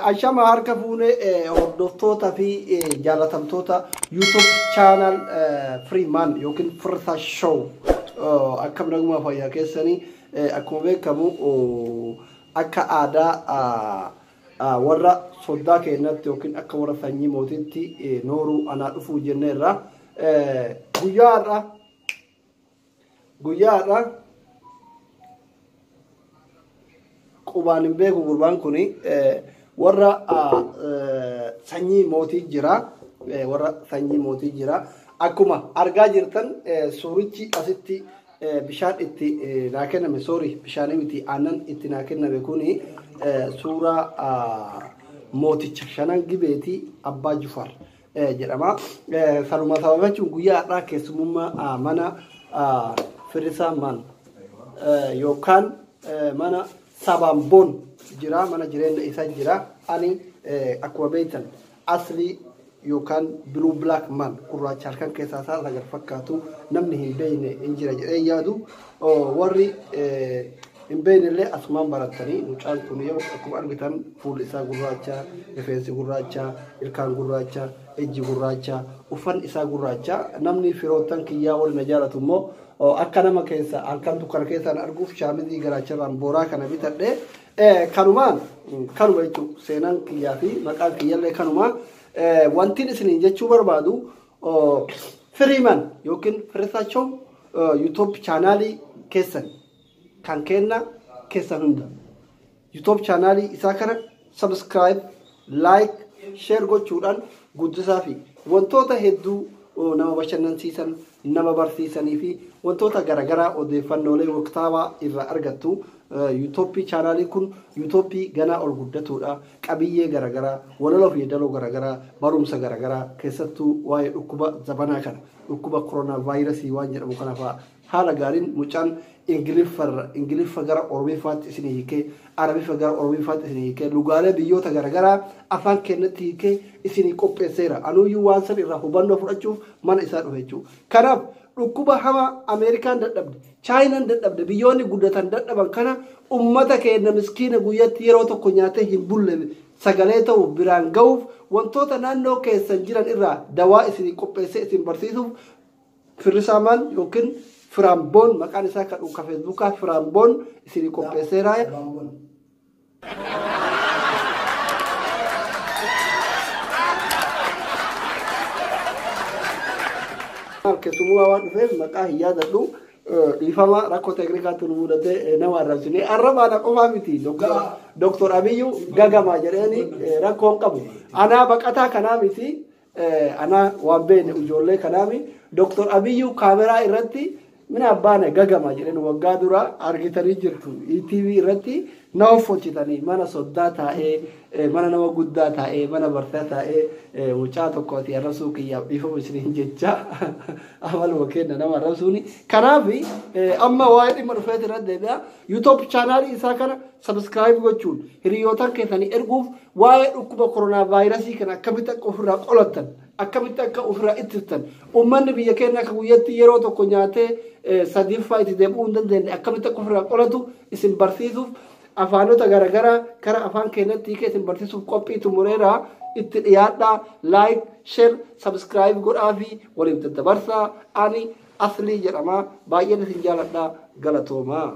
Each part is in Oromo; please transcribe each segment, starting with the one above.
Ashama harka fuunee hordoftoota fi jaalatamtoota YouTube channel Freeman yookiin Firsa Show akkam naguma fayyaa keessanii akkuma beekamu akka aadaa Warra soddaa keennatti yookiin akka warra sanyii mootiitti nooruu anaa dhufuu jenne irraa guyyaa har'a guyyaa har'a qubaan hin beeku gurbaan kun warra sanyii mootii jira warra sanyii mootii jira akkuma argaa jirtan suurichi asitti Bishaan itti naa kenname sorry bishaanii miti aannan itti naa kenname kuni suuraa mooticha shanan gibeeti abbaa jufar jedhama. Sanuma sababachuun guyyaa har'aa keessumummaa mana firrisaa man yookaan mana sabaan boon jira mana jireenya isaa jira ani akkuma beektan Asli yookaan blue black man gurraacha halkan keessaa isaa sagal fakkaatu namni hin beekne hin jira jedhee yaadu warri hin beekne illee asumaan barattanii mucaan kun yoo akkuma argitan fuulli isaa gurraacha rifeensi gurraacha ilkaan gurraacha ijji gurraacha uffanni isaa gurraacha namni firoottan kiyyaa warri na jaalatu immoo akka nama keessa halkan dukkana keessaan arguuf shaamizii garaacharraan booraa kana bitadhee Kanuma kanuma jechuun seenaan kiyyaa fi maqaan kiyyallee kanuma wantiin isiniin jechuu barbaadu firiiman yookiin firisaachoo yuutuub chaanaalii keessan kan kenna keessan hunda yuutuub chaanaalii isaa kana sabiskiraayib like, share gochuudhaan guddisaafi. Wantoota hedduu nama bashannansiisan, nama barsiisanii fi wantoota garaagaraa odeeffannoolee waqtaawaa irraa argattu. Yuutoppii chaanaaliin kun yuutoppii ganaa ol guddatuudha. Qabiyyee garaagaraa, walaloo fi yeedaloo garaagaraa, barumsa garaagaraa keessattuu waa'ee dhukkuba zabanaa kana, dhukkuba koronaavaayirasii waan jedhamu kana fa'aa Haala gaariin mucaan Ingiliffarra Ingiliffa gara Oromiffaatti isinii hiikee, Arabiffa gara Oromiffaatti isinii hiikee, lugaalee biyyoota garagaraa afaan keennatti hiikee isinii qopheesseera. Anuuyyuu waan san irraa hubannoo fudhachuuf mana isaa dhufe jechuudha. Kanaaf dhukkuba hamaa Ameerikaan dadhabde, Chaayinaan dadhabde, biyyoonni guddatan dadhaban kana ummata keenna miskiina guyyatti yeroo tokko nyaatee hin bulle sagalee ta'uuf, biraan gahuuf, wantoota naannoo keessan jiran irraa dawaa isinii qopheessee isin barsiisuuf Firrisaamaan yookiin Firaamboon maqaan isaa kan dhuunka Feesbuukaa Firaamboon isinii qopheesseera. Keessummaa waan dhufeef maqaa hin yaadadhu. Dhiifama rakkoo teeknikaatu nu mudatee nama arrabsine. Arrabaana qofaa miti. Dooktor Abiyyuu gagamaa jedheeni rakkoon qabu. Anaa baqataa kanaa miti. Anaa waan beene ujoollee kanaami Dr. Abiyyuu kaameraa irratti mina abbaana gagama jedhen waggaa dura argitanii jirtu ETV irratti na hoffolchitanii mana soddaa taa'ee mana nama guddaa taa'ee mana bartaa taa'ee mucaa tokkooti arrabsuu kiyyaaf dhiifama isiniin jecha amaluma kenna nama arrabsuuni kanaaf amma waa'ee dhimma dhufeeti irratti deebi'a Yuutoob chaanaalii isaa kana sabiskiraayib gochuun hiriyootan keessanii erguuf waa'ee dhukkuba koronaa vaayirasii kana akkamitti akka ofirraa qolattan akkamitti akka ofirraa ittistan uummanni biyya keenya akka guyyatti yeroo tokko nyaatee sadiiffaa itti deebi'uu hin dandeenye akkamitti akka ofirraa qolatu isin barsiisuuf afaanota garaagaraa gara afaan keenyatti hiikee isin barsiisuuf qophii xumureera itti dhiyaadhaa laayik sheer sabiskiraayib godhaa fi waliif daddabarsaa ani Aslii jedhama baay'een isin jaaladha galatoomaa.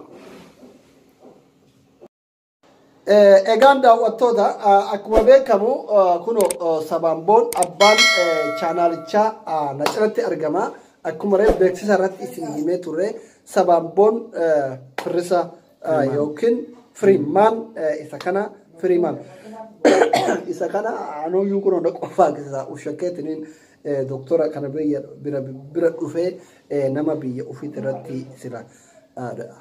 Egaan daawwattoota akkuma beekamu kuno sabaan boon abbaan chaanaalichaa na cinatti argama. Akkuma reef beeksisa irratti isin himee turre sabaan boon firrisa yookiin firiimaan isa kana firiimaan isa kana anuuyyuu kun hunda qofaa keessaa ushakkeetiniin doktora kana biyya bira bira dhufee nama biyya ofiit irratti sila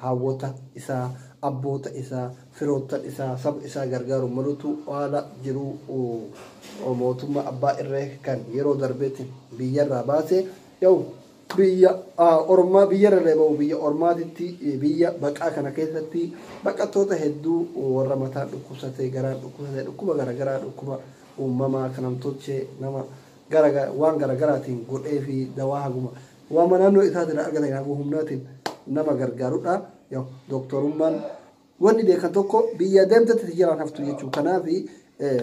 hawwota isaa abboota isaa firoottan isaa saba isaa gargaaru malutu haala jiru mootummaa abbaa irree kan yeroo darbeetti biyyarraa baase yoo Biyya ormaa biyya rarra'e ba'u biyya ormaatitti biyya baqaa kana keessatti baqattoota hedduu warra mataan dhukkubsate garaan dhukkubsate dhukkuba garagaraa dhukkuba uumamaa kan namtolchee nama garaga waan garagaraatiin godhee fi dawaa haguma waama naannoo isaatiin argatan haguma humnaatiin nama gargaarudha yoo dooktorummaan wanni beekan tokko biyya deemtetti si jalaan haftu jechuudha kanaaf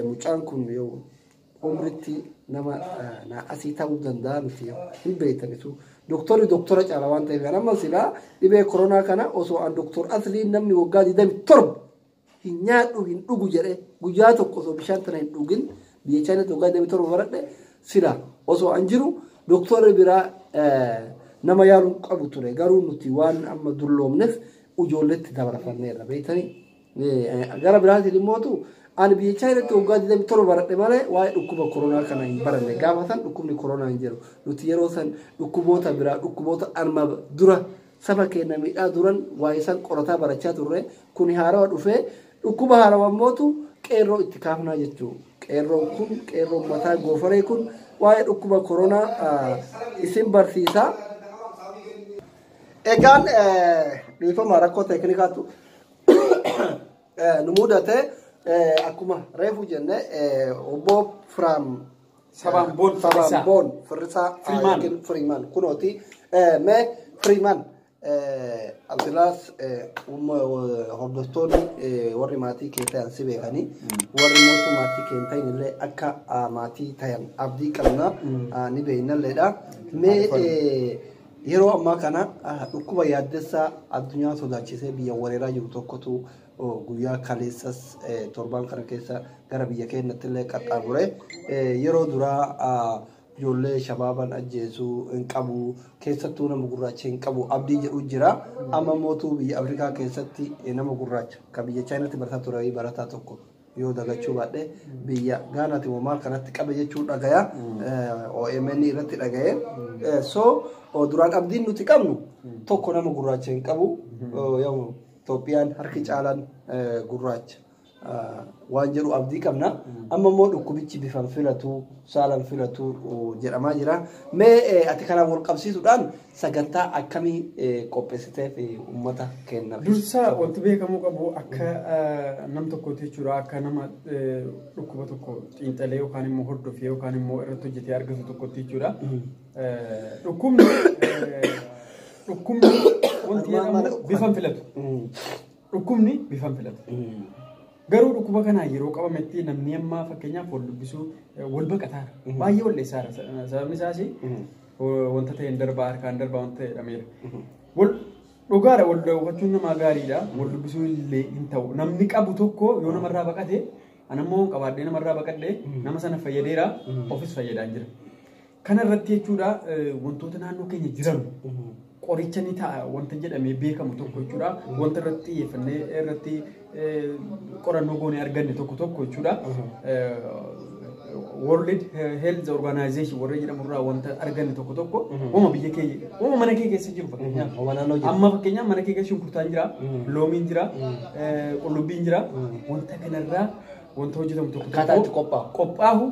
mucaan kun yoo umritti nama naa asii ta'uu danda'a miti hin beektanitu. Doktorri doktora caala waan ta'eef amma silaa dhibee koronaa kana osoo an doktor asliin namni waggaa 27 hin nyaadhu hin dhugu jedhe guyyaa tokko osoo bishaan tana hin dhugin biyya chaayinaatti waggaa 27 baradhe sila osoo an jiru doktorri biraa nama yaaluun qabu ture garuu nuti waan amma dulloomneef ijoolletti dabarfanneerra beektanii Gara biraatiin immootu ani biyya Chaayinaatti waggaa 27 baradhe malee waa'ee dhukkuba koronaa kana hin baranne. Gaafa san dhukkubni koronaa hin jiru. Nuti yeroo san dhukkuboota biraa dhukkuboota arma dura saba keenya miidhaa duran waa'ee san qorataa barachaa turre. Kuni haarawa dhufee dhukkuba haarawa immootu qeerroo itti kaafnaa jechuudha. Qeerroon kun qeerroo ummataa goofaree kun waa'ee dhukkuba koronaa isin barsiisa. Egaan dhiifama rakkoo teeknikaatu nu mudate akkuma reefu jenne obbo Firaam Sabaan Boon Sabaan Firrisaa. Boon Firrisaa Firimaan. yookiin Firimaan kunooti mee Firimaan Abdilaas hordoftoonni eh, warri maatii kee ta'an si beekanii warri mootuu maatii kee hin ta'in illee akka ah, maatii ta'an abdii qabna ah, ni beeknalleedha mee eh, Yeroo ammaa kana dhukkuba yaaddessaa addunyaa sodaachisee biyya wareeraa jiru tokkotu guyyaa kaleessas torbaan kana keessa gara biyya keenyatti illee qaxxaamure. Yeroo duraa ijoollee shabaaban ajjeesuu hin qabu keessattuu nama gurraacha hin qabu abdii jedhu jira. Amma mootuu biyya Afrikaa keessatti nama gurraacha kan biyya Chaayinaatti barataa ture barataa tokko yoo dagachuu baadhe biyya gaanaati moo maal kanatti qabe jechuu dhagaya OMN irratti dhagaye so duraan abdiin nuti qabnu tokko nama gurraacha hin qabu yoom Itoophiyaan harki caalaan gurraacha waan jedhu abdii qabna amma immoo dhukkubichi bifan filatu saalan filatu jedhamaa jira mee ati kanaan wal qabsiisuudhaan Sagantaa akkamii qophessiteef ummata keennaf? Dursa wanti beekamuu qabu akka nam tokkooti jechuudha. Akka nama dhukkuba tokko xiinxalee yookaan immoo hordofee yookaan immoo irratti hojjetee argatu tokkotti jechuudha. Dhukkubni dhukkubni wanti jedhamu bifa hin filatu. Dhukkubni bifa hin filatu. Garuu dhukkuba kanaan yeroo qabametti namni ammaa fakkeenyaaf wal dubbisuu eh, wal baqataara. Mhm. Baay'ee wal dheessaara. Sa- Sababni isaas eh, wanta ta'een darbaa harkaan darbaa wanta jedhameera. Wal dhugaadha wal daawwachuun namaa gaariidha. Wal dubbisuu illee hin ta'u. Namni qabu tokko yoo namarraa baqate anammoo qabaadhee namarraa baqadhee nama sana fayyadeera ofis fayyadaan jira. Kana irratti jechuudha wantoota naannoo keenya jiran qoricha ni ta'a wanta jedhamee beekamu tokko jechuudha. Wanta irratti xiyyeeffannee irratti qorannoo goonee arganne tokko tokko jechuudha. World Health Organization warra jedhamu irraa wanta arganne tokko tokko uuma biyya keenya uuma mana kee keessa jiru fakkeenyaaf. Uuma naannoo jiru. Amma fakkeenyaaf mana kee keessa shunkurtaan jira, loomiin jira, qullubbiin jira. Wanta kanarraa wanta hojjetamu tokko Akkaataa itti qophaa'u. qophaa'u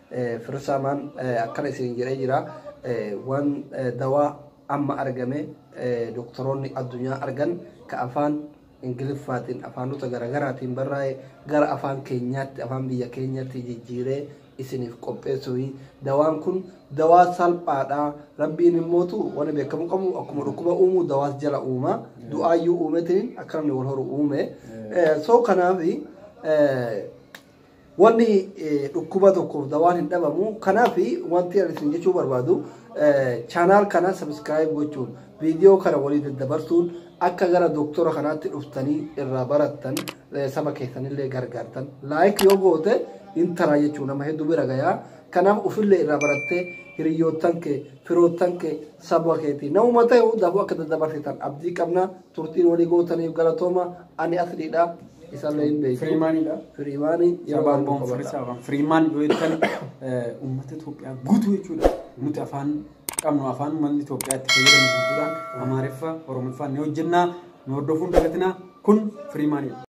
Firsaamaan akkana isin jedhee jira waan dawaa amma argame doktoroonni addunyaa argan ka afaan ingiliffaatiin afaanota garaagaraatiin barraa'e gara afaan keenyaatti afaan biyya keenyatti jijjiiree isiniif qopheessuufi dawaan kun dawaa salphaadha rabbiin immootu wani beekamu qabu akkuma dhukkuba uumuu dawaas jala uuma du'aayyuu uumetiin akka namni wal horu uume soo kanaafi Wanni dhukkuba tokkoof dawaan hin dhabamu. Kanaaf wanti ani isin jechuu barbaadu chaanaal kana sabiskiraayib gochuun viidiyoo kana walii daddabarsuun akka gara doktora kanaatti dhuftanii irraa barattan saba keessanillee gargaartan. Laayik yoo goote hin taraa jechuu nama hedduu bira gayaa. Kanaaf ofillee irraa barattee hiriyoottan kee firoottan kee saba keetii namuma ta'e hundaafuu akka daddabarsitan abdii qabna turtiin walii gootaniif galatooma ani asliidha. Isallee hin beeku. Firiimaanidha. Firiimaanii yeroo Sabaan waan boon qabata. firisaa afaan firiimaan yoo jettan eh, uummata Itoophiyaa guutuu jechuudha. Nuti afaan qabnu afaan uummanni Itoophiyaa itti fayyadamu guutuudhaan Amaariffa, Oromiffaa ni hojjennaa, nu hordofuun dagatinaa kun firiimaanidha.